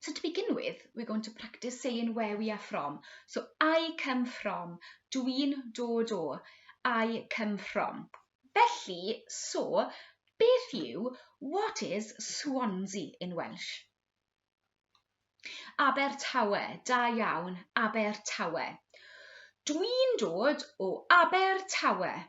So to begin with, we're going to practice saying where we are from. So I come from, dwi'n dod o, I come from. Felly, so, beth yw, what is Swansea in Welsh? Abertawe, da iawn, Abertawe. Dwi'n dod o Abertawe.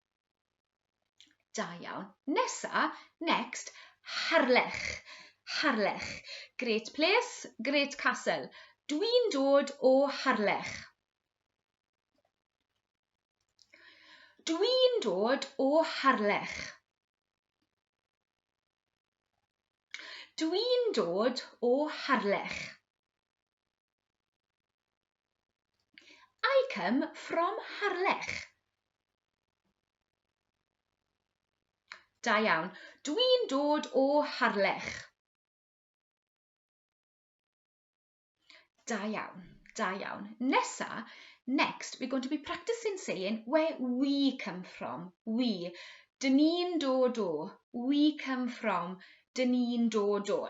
Da iawn. Nesa, next, Harlech. Harlech. Great place, great castle. Dwi'n dod o Harlech. Dwi'n dod o Harlech. Dwi'n dod o Harlech. I come from Harlech. Da iawn. Dwi'n dod o Harlech. Da iawn, da iawn. Nesa, next, we're going to be practicing saying where we come from. We. Dyn ni'n dod o. We come from. Dyn ni'n dod o.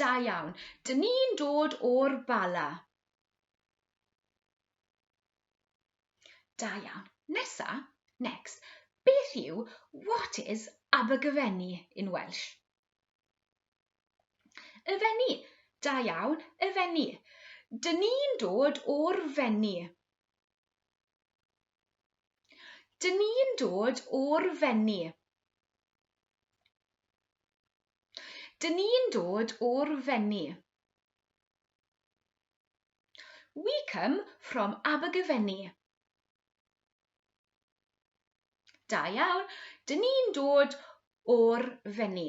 Da iawn. Dyn ni'n dod o'r Bala. Da iawn. Nesa, next. Beth yw what is Abergyfenni in Welsh? Y fenni. Da iawn, y fenni. Dyn ni'n dod o'r fenni. Dyn ni'n dod o'r Fenni. Dyn ni'n dod o'r Fenni. We come from Abergavenny. Da iawn. Dyn ni'n dod o'r Fenni.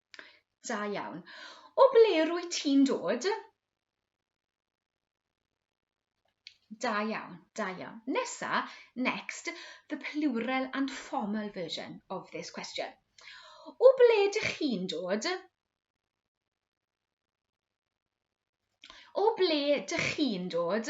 Da iawn. O ble rwy ti'n dod? Da iawn, da iawn. Nesa, next, the plural and formal version of this question. O ble dych chi'n dod? O ble dych chi'n dod?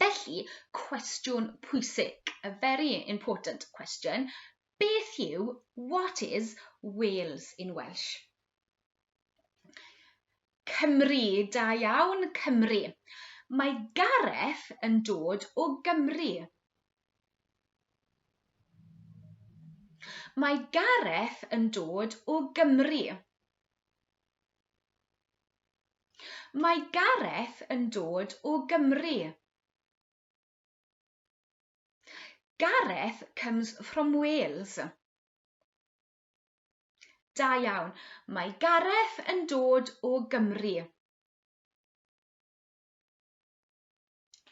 Felly, cwestiwn pwysig, a very important question, beth yw what is Wales in Welsh? Cymru, da iawn, Cymru. Mae Gareth yn dod o Gymru. Mae Gareth yn dod o Gymru. Mae Gareth yn dod o Gymru. Gareth comes from Wales. Da iawn. Mae Gareth yn dod o Gymru.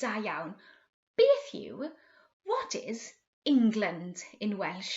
Da iawn. Beth yw, what is, England in Welsh?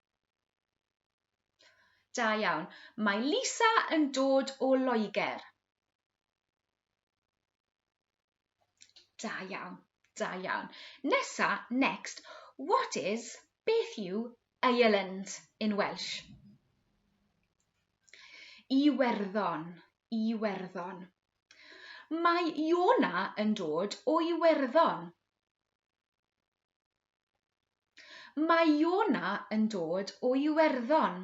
Da iawn. Mae Lisa yn dod o Loegr. Da iawn, da iawn. Nesa, next, what is, beth yw, Ireland in Welsh? Iwerddon, Iwerddon. Mae Iona yn dod o Iwerddon. Mae Iona yn dod o Iwerddon.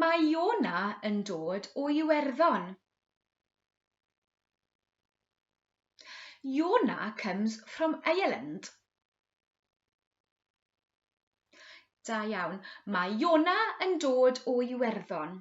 Mae Iona yn dod o Iwerddon. Iona comes from Ireland. Da iawn. Mae Iona yn dod o Iwerddon.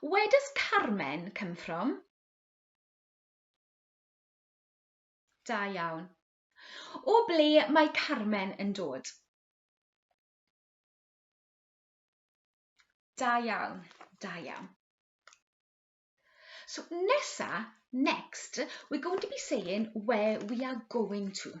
Where does Carmen come from? Da iawn. O ble mae Carmen yn dod? Da iawn, da iawn. So nesa, next, we're going to be saying where we are going to.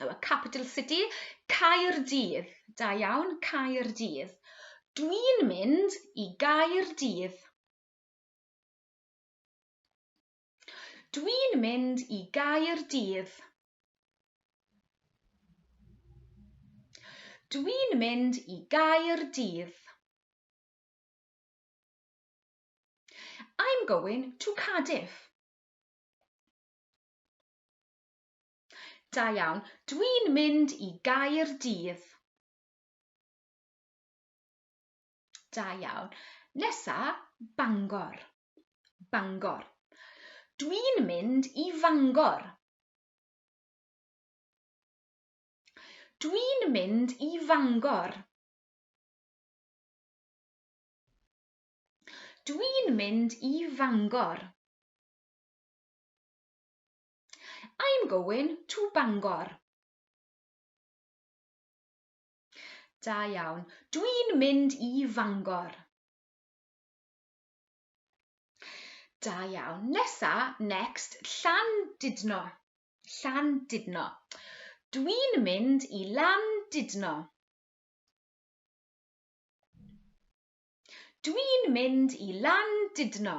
y capital city, Caerdydd. Da iawn, Caerdydd. Dwi'n mynd i Gaerdydd. Dwi'n mynd i Gaerdydd. Dwi'n mynd i Gaerdydd. I'm going to Cardiff. Da iawn. Dwi'n mynd i gair dydd. Da iawn. Nesa, Bangor. Bangor. Dwi'n mynd i Fangor. Dwi'n mynd i Fangor. Dwi'n mynd i Fangor. I'm going to Bangor. Da iawn. Dwi'n mynd i Fangor. Da iawn. Nesa, next, llan didno. Llan didno. Dwi'n mynd i lan didno. Dwi'n mynd i lan didno.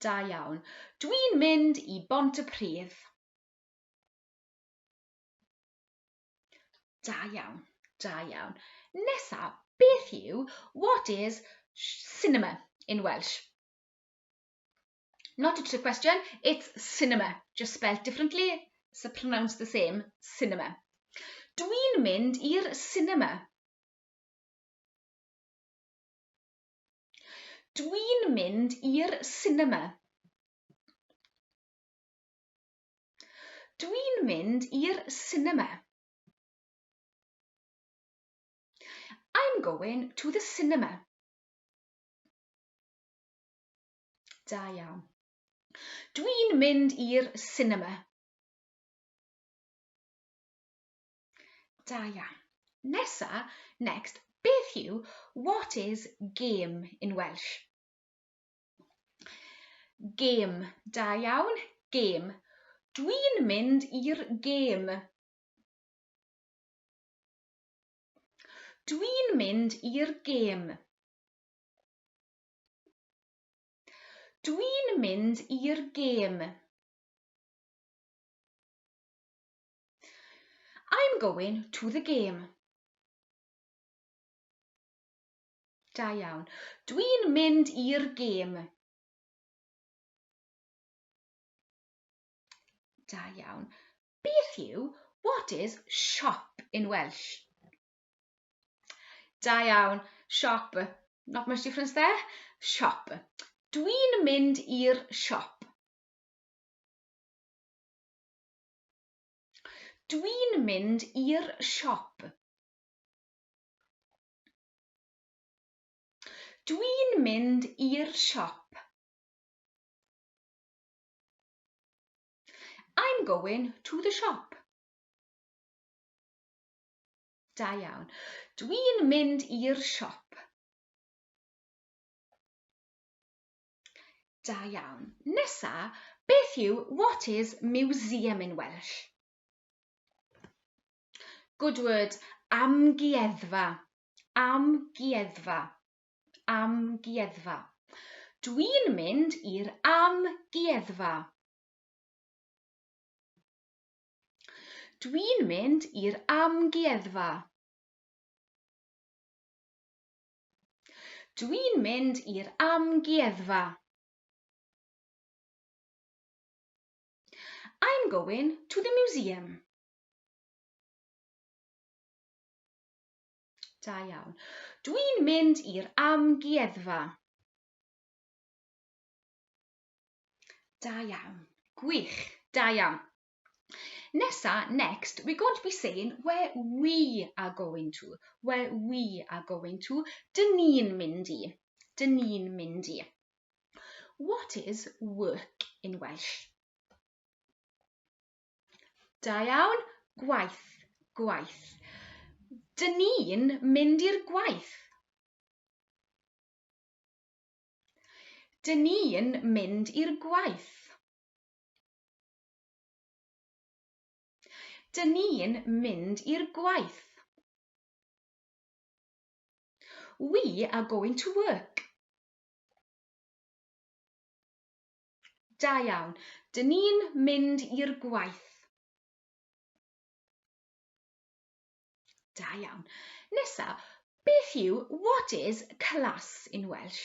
Da iawn. Dwi'n mynd i Bont y Pridd. Da iawn, da iawn. Nesa, beth yw, what is cinema in Welsh? Not a trick question, it's cinema, just spelled differently, so pronounced the same, cinema. Dwi'n mynd i'r cinema. Dwi'n mynd i'r sinema. Dwi'n mynd i'r sinema. I'm going to the cinema. Da iawn. Dwi'n mynd i'r sinema. Da iawn. Nesa, next, beth yw what is game in Welsh? Game, da iawn, game. Dwi'n mynd i'r game. Dwi'n mynd i'r game. Dwi'n mynd i'r gêm. I'm going to the game. Da iawn. Dwi'n mynd i'r gêm. Da iawn. Beth yw, what is shop in Welsh? Da iawn. Shop. Not much difference there. Shop. Dwi'n mynd i'r siop. Dwi'n mynd i'r siop. Dwi'n mynd i'r siop. I'm going to the shop. Da iawn. Dwi'n mynd i'r siop. Da iawn. Nesa, beth yw what is museum in Welsh? Good word, amgueddfa. Amgueddfa. Amgueddfa. Dwi'n mynd i'r amgueddfa. Dwi'n mynd i'r amgueddfa. Dwi'n mynd i'r amgueddfa. I'm going to the museum. Da iawn. Dwi'n mynd i'r amgueddfa. Da iawn. Gwych. Da iawn. Nesa, next, we're going to be saying where we are going to. Where we are going to. Dyn ni'n mynd i. Dyn ni'n mynd i. What is work in Welsh? Da iawn, gwaith, gwaith. Dyn ni'n mynd i'r gwaith. Dyn ni'n mynd i'r gwaith. Dyn ni'n mynd i'r gwaith. We are going to work. Da iawn. Dyn ni'n mynd i'r gwaith. Da iawn. Nesa, beth yw what is class in Welsh?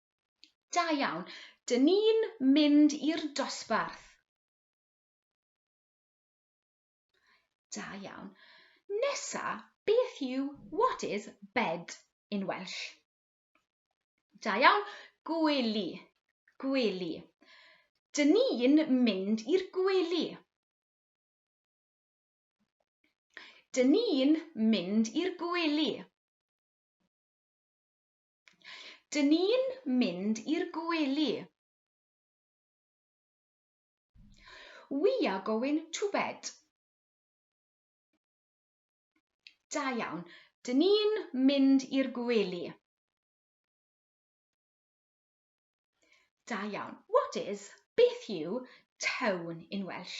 Da iawn. Dyn ni'n mynd i'r dosbarth. Da iawn. Nesa, beth yw what is bed in Welsh? Da iawn. Gwely. Gwely. Dyn ni'n mynd i'r gwely. Dyn ni'n mynd i'r gwely. Dyn ni'n mynd i'r gwely. We are going to bed. Da iawn. Dyn ni'n mynd i'r gwely. Da iawn. What is, beth yw, tone in Welsh?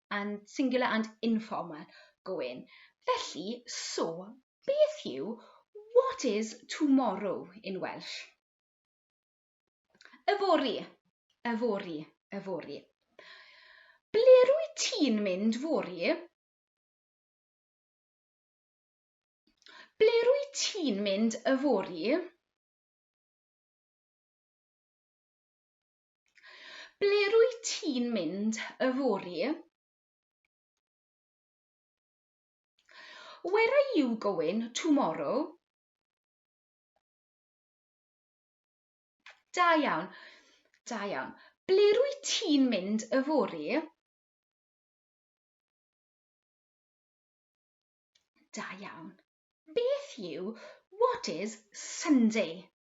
and singular and informal going. Felly, so, beth yw what is tomorrow in Welsh? Yfory, yfory, yfory. Ble rwy ti'n mynd fori? Ble rwy ti'n mynd yfory? Ble rwyt ti'n mynd yfory? Where are you going tomorrow? Da iawn. Da iawn. Ble rwyt ti'n mynd yfory? Da iawn. Beth yw what is Sunday?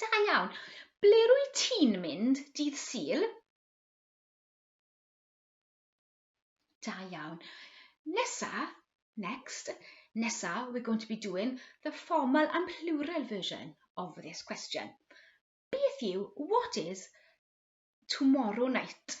Da iawn. Ble rwy ti'n mynd dydd syl? Da iawn. Nesa, next, nesa, we're going to be doing the formal and plural version of this question. Beth yw, what is, tomorrow night?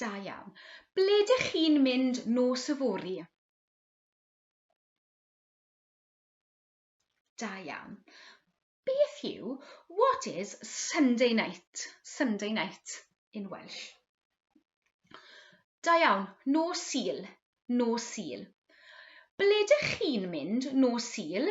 Da iawn. Ble dych chi'n mynd nos yfory? Da iawn. Beth yw, what is Sunday night? Sunday night in Welsh. Da iawn, nos sil, nos sil. Ble dych chi'n mynd nos sil?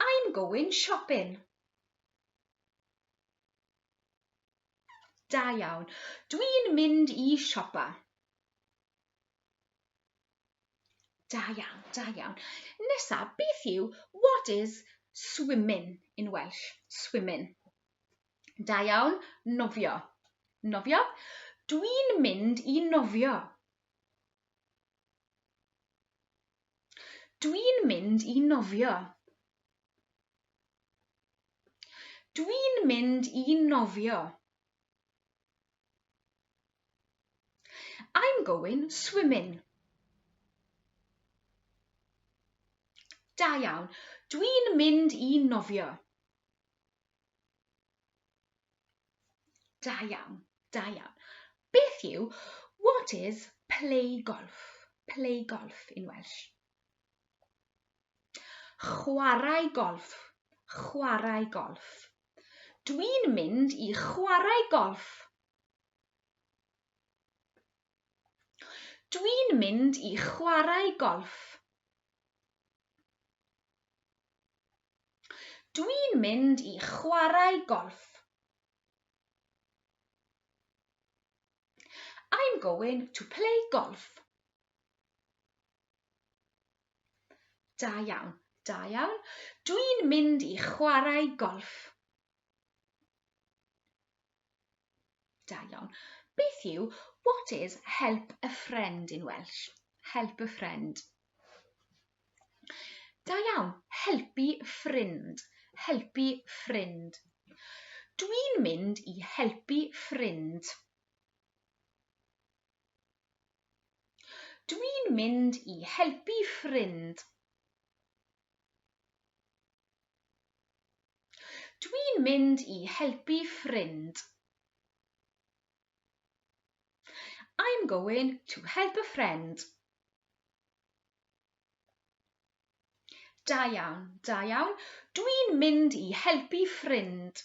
I'm going shopping. Da iawn. Dwi'n mynd i siopa. Da iawn, da iawn. Nesa, beth yw what is swimming in Welsh? Swimming. Da iawn, nofio. Nofio. Dwi'n mynd i nofio. Dwi'n mynd i nofio. Dwi'n mynd i nofio. I'm going swimming. Da iawn. Dwi'n mynd i nofio. Da iawn, da iawn. Beth yw, what is play golf? Play golf in Welsh. Chwarae golf, chwarae golf. Dwi'n mynd i chwarae golf. Dwi'n mynd i chwarae golf. Dwi'n mynd i chwarae golff. I'm going to play golf. Da iawn, da iawn. Dwi'n mynd i chwarae golff. Da iawn. Beth yw what is help a friend in Welsh? Help a friend. Da iawn, helpu ffrind, helpu ffrind. Dwi'n mynd i helpu ffrind. Dwi'n mynd i helpu ffrind. Dwi'n mynd i helpu ffrind. I'm going to help a friend. Da iawn, da iawn. Dwi'n mynd i helpu ffrind.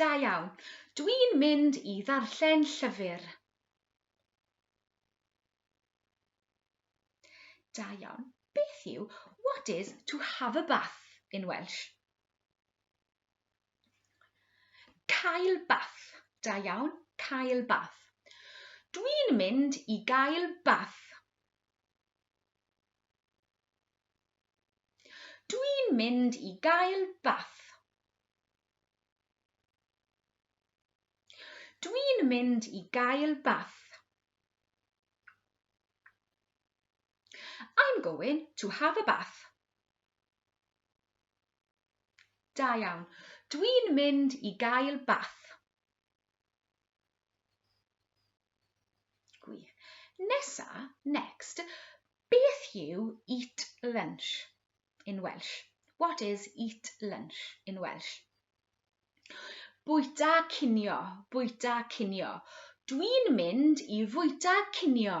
Da iawn. Dwi'n mynd i ddarllen llyfr. Da iawn. Beth yw what is to have a bath in Welsh? Cael bath. Da iawn, cael bath. Dwi'n mynd i gael bath. Dwi'n mynd i gael bath. Dwi'n mynd i gael bath. I'm going to have a bath. Da iawn. Dwi'n mynd i gael bath. Gwych. Nesa, next, beth yw eat lunch in Welsh? What is eat lunch in Welsh? Bwyta cinio, bwyta cinio. Dwi'n mynd i fwyta cinio.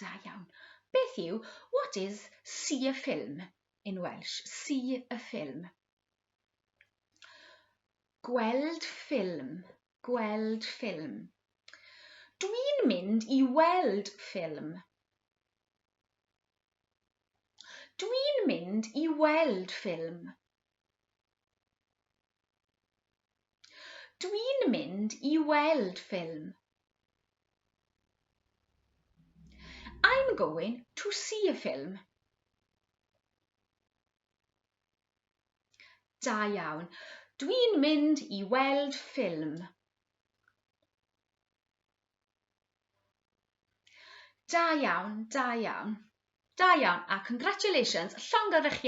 Da iawn. Beth yw, what is see a film in Welsh? See a film. Gweld ffilm, gweld ffilm. Dwi'n mynd i weld ffilm. Dwi'n mynd i weld ffilm. Dwi'n mynd i weld ffilm. I'm going to see a film. Da iawn. Dwi'n mynd i weld ffilm. Da iawn, da iawn. Da iawn, a congratulations, llongyfarchiadau.